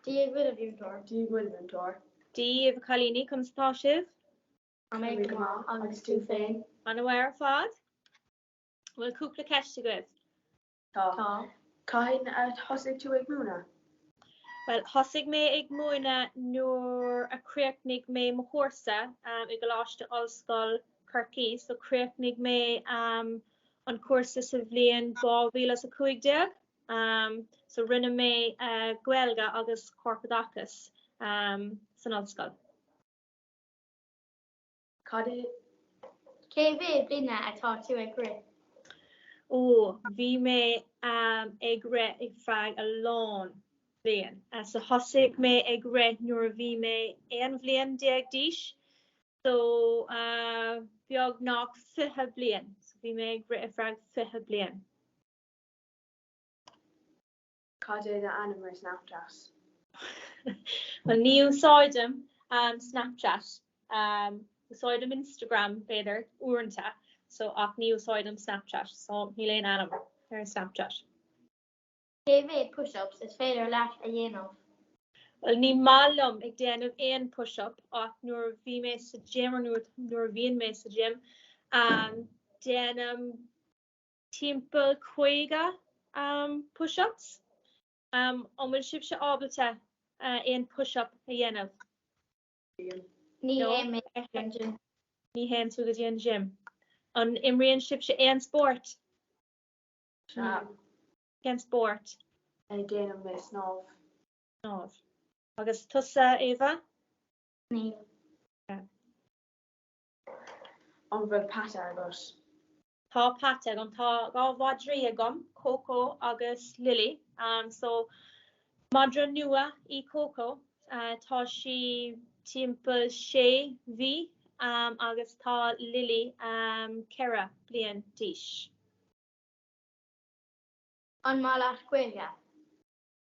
Dia dhuit a mhúinteoir. Dia dhuit a mhúinteoir. Dia daoibh a chailíní, conas atá sibh? Táimid go maith agus tú féin? An-mhaith ar fad. Bhfuil cúpla ceist agaibh? Tá. Tá. Cathain a thosaigh tú ag múineadh? Bhuel, thosaigh mé ag múineadh nuair a chríochnaigh mé mo chúrsa i gColáiste Ollscoil Corcaigh. So chríochnaigh mé an cúrsa sa bhliain 2015. Um so rinne mé uh Gaeilge agus Corpoideachas um san ollscoil. Cad, cé mhéad bliana atá tú ag rith? Ó bhí mé um ag rith ar feadh a lán bliain. Uh, so thosaigh mé ag rith nuair a bhí mé aon bhliain déag d'aois. So uh, beagnach 20 bliain. So bhí mé ag rith ar feadh 20 bliain. Cad é do ainm ar Snapchat? Bhuel ní úsáidim Snapchat. Úsáidim Instagram b'fhéidir uaireanta so ach ní úsáidim Snapchat so níl aon ainm ar an Snapchat. Cé mhéad push ups is féidir leat a dhéanamh? Bhuel ní maith liom ag déanamh aon push up ach nuair a bhí mé sa gym or nuair a bhíonn mé sa gym déanaim timpeall 50 push-ups, an bhfuil sibhse ábalta aon push-up a dhéanamh? Ní théann mé go dtí an gym. Ní théann tú go dtí an gym. An imríonn sibhse aon spórt? Sea. Cén spórt? Déanann mé snámh. Snámh. Agus tusa, Éabha? Níl. An bhfuil peata agat? Tá peata agam. Tá dhá mhadraí agam, Cócó agus Lilí. So madra nua í Cócó. Tá sí timpeall sé mhí agus tá Lilí ceithre bliain d'aois. An maith leat Gaeilge?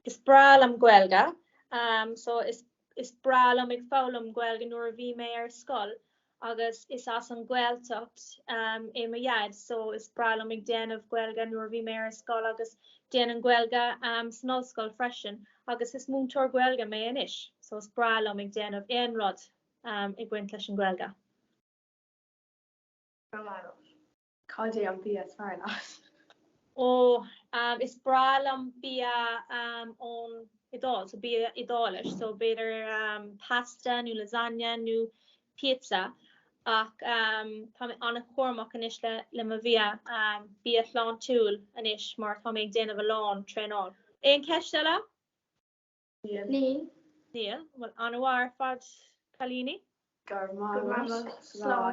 Is breá liom Gaeilge. So, is, is breá liom ag foghlaim Gaeilge nuair a bhí mé ar scoil agus is as an Gaeltacht é mo Dhaid so is breá liom ag déanamh Gaeilge nuair a bhí mé ar scoil agus déanamh Gaeilge san ollscoil freisin agus is múinteoir Gaeilge mé anois so is breá liom ag déanamh aon rud ag baint leis an Gaeilge. Cad é an bia is fearr leat? Oh, is breá liom bia ón Iodáil, so bia Iodálach, so b'fhéidir pasta nó lasagne nó pizza ach tá mé an-chúramach anois le le mo bhia, bia sláintiúil anois mar tá mé ag déanamh a lán traenáil. Aon cheist eile? Níl. Níl. Bhuel, an-mhaith ar fad cailíní. Go raibh maith agat. Slán.